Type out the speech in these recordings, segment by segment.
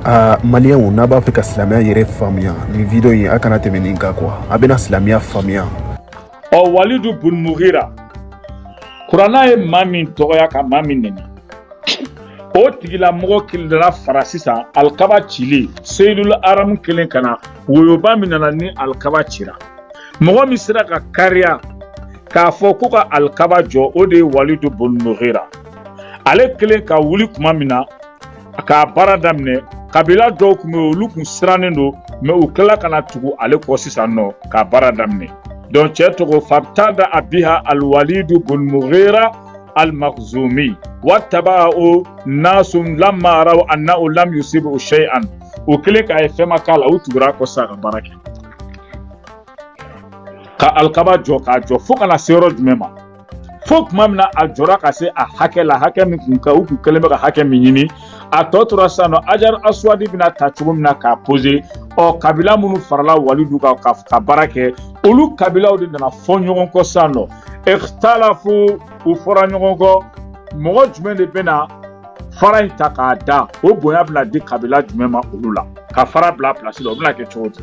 aa maliyɛnw n'a b'a fɛ ka silamɛya yɛrɛ faamuya nin video in a kana tɛmɛ nin kan kuwa a bɛna silamɛya faamuya ɔ walidu bunmugira kurana ye maa min dɔgɔya ka maa min nɛni o tigilamɔgɔ kelen dara fara sisan alikaba cili seyidul aramu kɛlen ka na woyoba min nana ni alikaba cira mɔgɔ min sera ka kariya k'a fɔ ko ka alikaba jɔ o de ye walidu bunmugira ale kɛlen ka wuli kuma min na k'a baara daminɛ kabila dɔw kun bɛ olu kun sirannen don mɛ u tilala ka na tugu ale kɔ sisan nɔ k'a baara daminɛ donc cɛ tɔgɔ fabtada'a biha aliwalidu bunmugira alimakuzumi watabaho nasu lamma raw annaho lam yusibuho shayan u kɛlen k'a ye fɛn ma k'a la u tugur'a kɔ sisan ka baara kɛ ka alikaba jɔ k'a jɔ fo ka na se yɔrɔ jumɛn ma fo kuma min na a jɔra ka se a hakɛ la hakɛ min kun ka u kun kɛlen bɛ ka hakɛ min ɲini a tɔ tora sisan nɔ ajar aswadi bɛna ta cogo min na k'a pose ɔ kabila minnu farala walidu kan ka ka baara kɛ olu kabilaw de nana fɔ ɲɔgɔn kɔ sisan nɔ ikhtalafu u fɔra ɲɔgɔn kɔ mɔgɔ jumɛn de bɛna fara in ta k'a da o bonya bɛna di kabila jumɛn ma olu la ka fara bila pilasi la o bɛna kɛ cogo di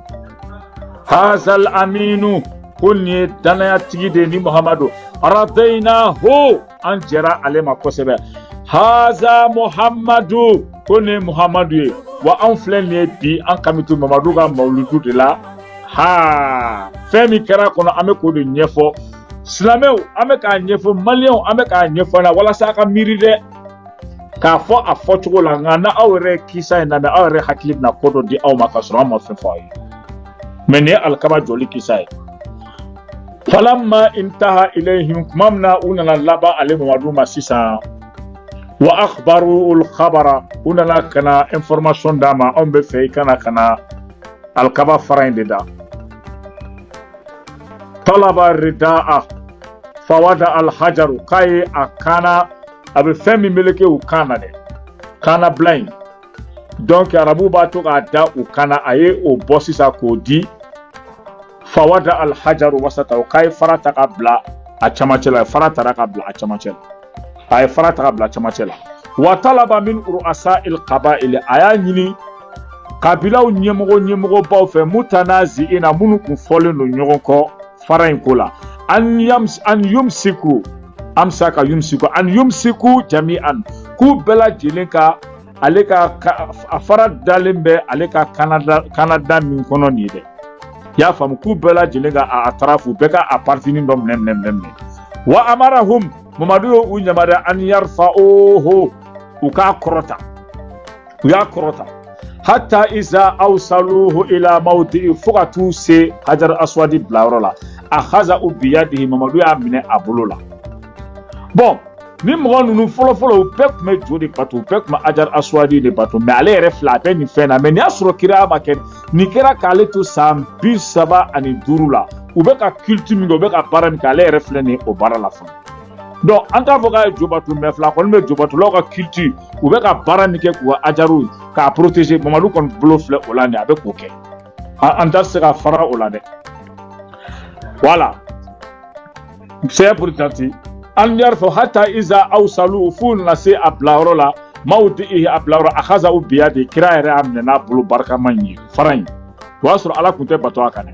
hazal aminu ko nin ye dannayatigi de ye ni muhamadu radeyinaho an jɛra ale ma kosɛbɛ haza muhamadu ko nin ye muhamadu ye wa anw filɛ nin ye bi an kami to mamadu ka mawuludu de la ha fɛn min kɛra a kɔnɔ an bɛ k'o de ɲɛfɔ silamɛw an bɛ k'a ɲɛfɔ maliyɛnw an bɛ k'a ɲɛfɔ a la walasa a ka miiri dɛ k'a fɔ a fɔcogo la nka n'aw yɛrɛ kisa in lamɛn aw yɛrɛ hakili bɛna ko dɔ di aw ma k'a sɔrɔ an ma fɛn fɔ aw ye mɛ nin ye alikaba jɔli kisa ye falamma intaha ilayhim kuma min na u nana laban ale mamadu ma sisan wa akhbaru ul khabara u nana ka na information d'a ma anw b'a fɛ i ka na ka na alikaba fara in de da talaba rida'a fawada alhajaru k'a ye a kan na a bɛ fɛn min meleke u kan na dɛ kannabila in donc arabu b'a to k'a da u kan na a ye o bɔ sisan k'o di fawada alhajaru wasataho k'a ye fara ta ka bila a camancɛ la fara tara ka bila a camancɛ la a ye fara ta bila camancɛ la wa talaba min ru'asa il kabayili a y'a ɲini kabilaw ɲɛmɔgɔ ɲɛmɔgɔbaw fɛ mutanazi'ina minnu kun fɔlen don ɲɔgɔn kɔ fara in ko la an yams an yumsiku amsaka yumsiku an yumsiku jami'an k'u bɛɛ lajɛlen ka ale ka a fara dalen bɛ ale ka kanada min kɔnɔ nin ye dɛ i y'a faamu k'u bɛɛ lajɛlen ka a tarafu bɛɛ ka a partinin dɔ minɛ minɛ minɛ minɛ wa amarahum mamadu y'u yamaruya an yarfa'uhu u k'a kɔrɔta u y'a kɔrɔta hatta iza awsaluhu ila mawdi'i fo ka t'u se hajar aswadi bilayɔrɔ la akhazahu biyadihi mamadu y'a minɛ a bolo la bɔn Ni mɔgɔ ninnu fɔlɔfɔlɔ u bɛɛ tun bɛ jo de bato u bɛɛ tun bɛ hajar aswadi de bato mɛ ale yɛrɛ filɛ a bɛ nin fɛn na mɛ nin y'a sɔrɔ kira ma kɛ nin kɛra k'ale to san bi saba ani duuru la u bɛ ka kiliti min kɛ u bɛ ka baara min kɛ ale yɛrɛ filɛ nin o baara la fana dɔn an t'a fɔ k'a ye jo bato mɛ filɛ a kɔni bɛ jo batolaw ka kiliti u bɛ ka baara min kɛ k'u ka hajaru k'a protege mamadu kɔni bolo filɛ o la nin a bɛ k'o kɛ an tɛ se ka fara o la dɛ wala saya purtati an y'a fɔ hatta iza awsalu f'u nana se a bilayɔrɔ la mawdi'ihi a bilayɔrɔ akhazahu biyadi kira yɛrɛ y'a minɛ n'a bolo barikama in ye fara in o y'a sɔrɔ ala tun tɛ bato a kan dɛ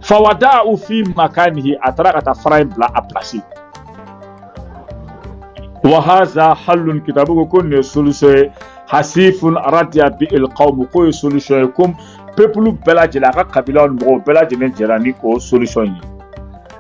fawada'ahu fi makanihi a taara ka taa fara in bila a pilasi wa haza hallun kitabu ko ko nin ye solution ye hasifun radiya bihil qawmu k'o ye solution ye ko pepulu bɛɛ lajɛlen a ka kabilaw ni mɔgɔw bɛɛ lajɛlen jɛra ni o solution ye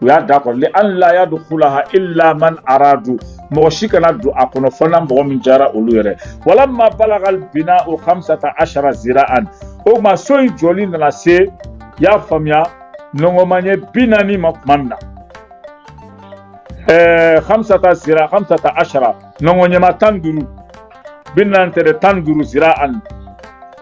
u y'a da kɔrɔ li an la yadkhulaha illa man aradu mɔgɔ si kana don a kɔnɔ fo n'a mɔgɔ min diyara olu yɛrɛ walamma balagal bina'u khamsata ashara zira'an o tuma so in jɔli nana se y'a faamuya nɔngɔmanye bi naani ma tuma min na ɛɛ khamsata zira khamsata ashara nɔngɔnyɛma tan duuru bi naani tɛ dɛ tan duuru zira'an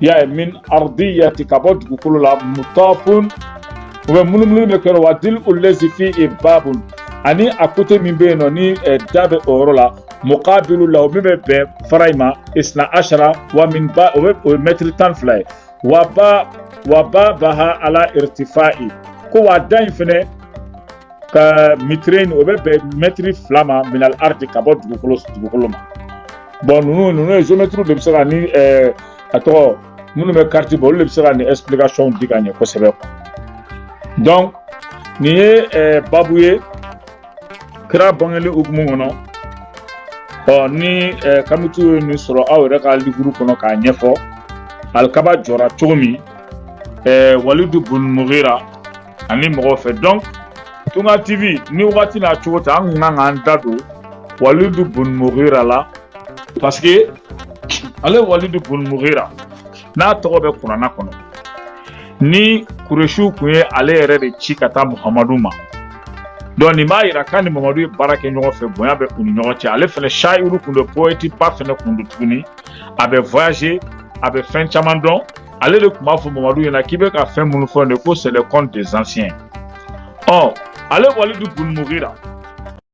y'a ye min ardiyati ka bɔ dugukolo la mutafun u bɛ munumunu bɛ kɛ wa dil'u llazi fihi babun ani a kote min bɛ yen nɔ ni da bɛ o yɔrɔ la muqabilu lahu min bɛ bɛn fara in ma isna ashara wa min ba o bɛ o ye mɛtiri tan fila ye wa ba wa babaha ala irtifa'i ko wa da in fɛnɛ ka mitrayni o bɛ bɛn mɛtiri fila ma minal ardi ka bɔ dugukolo ma bɔn ninnu ninnu ye zeyomɛtiriw de bɛ se ka ni ɛɛ a tɔgɔ minnu bɛ kariti bɔ olu de bɛ se ka nin ɛsipilikasɔnw di ka ɲɛ kosɛbɛ dɔnku nin ye ɛɛ babu ye kira bangeli hukumu kɔnɔ ɔ ni ɛɛ kamitiw ye nin sɔrɔ aw yɛrɛ ka liburu kɔnɔ k'a ɲɛfɔ alikaba jɔra cogo min ɛɛ walidu bun mugira ani mɔgɔw fɛ donc tunga tv ni wagati n'a cogo ta an kun kan k'an da don walidu bun mugira la parce que ale walidu bun mugira n'a tɔgɔ bɛ kurana kɔnɔ ni kuresiw kun ye ale yɛrɛ de ci ka taa muhamadu ma donc nin b'a yira k'a ni muhamadu ye baara kɛ ɲɔgɔn fɛ bonya bɛ u ni ɲɔgɔn cɛ ale fɛnɛ shayuru kun don poète ba fɛnɛ kun don tuguni a bɛ voyage a bɛ fɛn caman dɔn ale de kun b'a fɔ muhamadu ɲɛna k'i bɛ ka fɛn minnu fɔ nin ko c'est le conte des anciens ɔ ale walidu bun mugira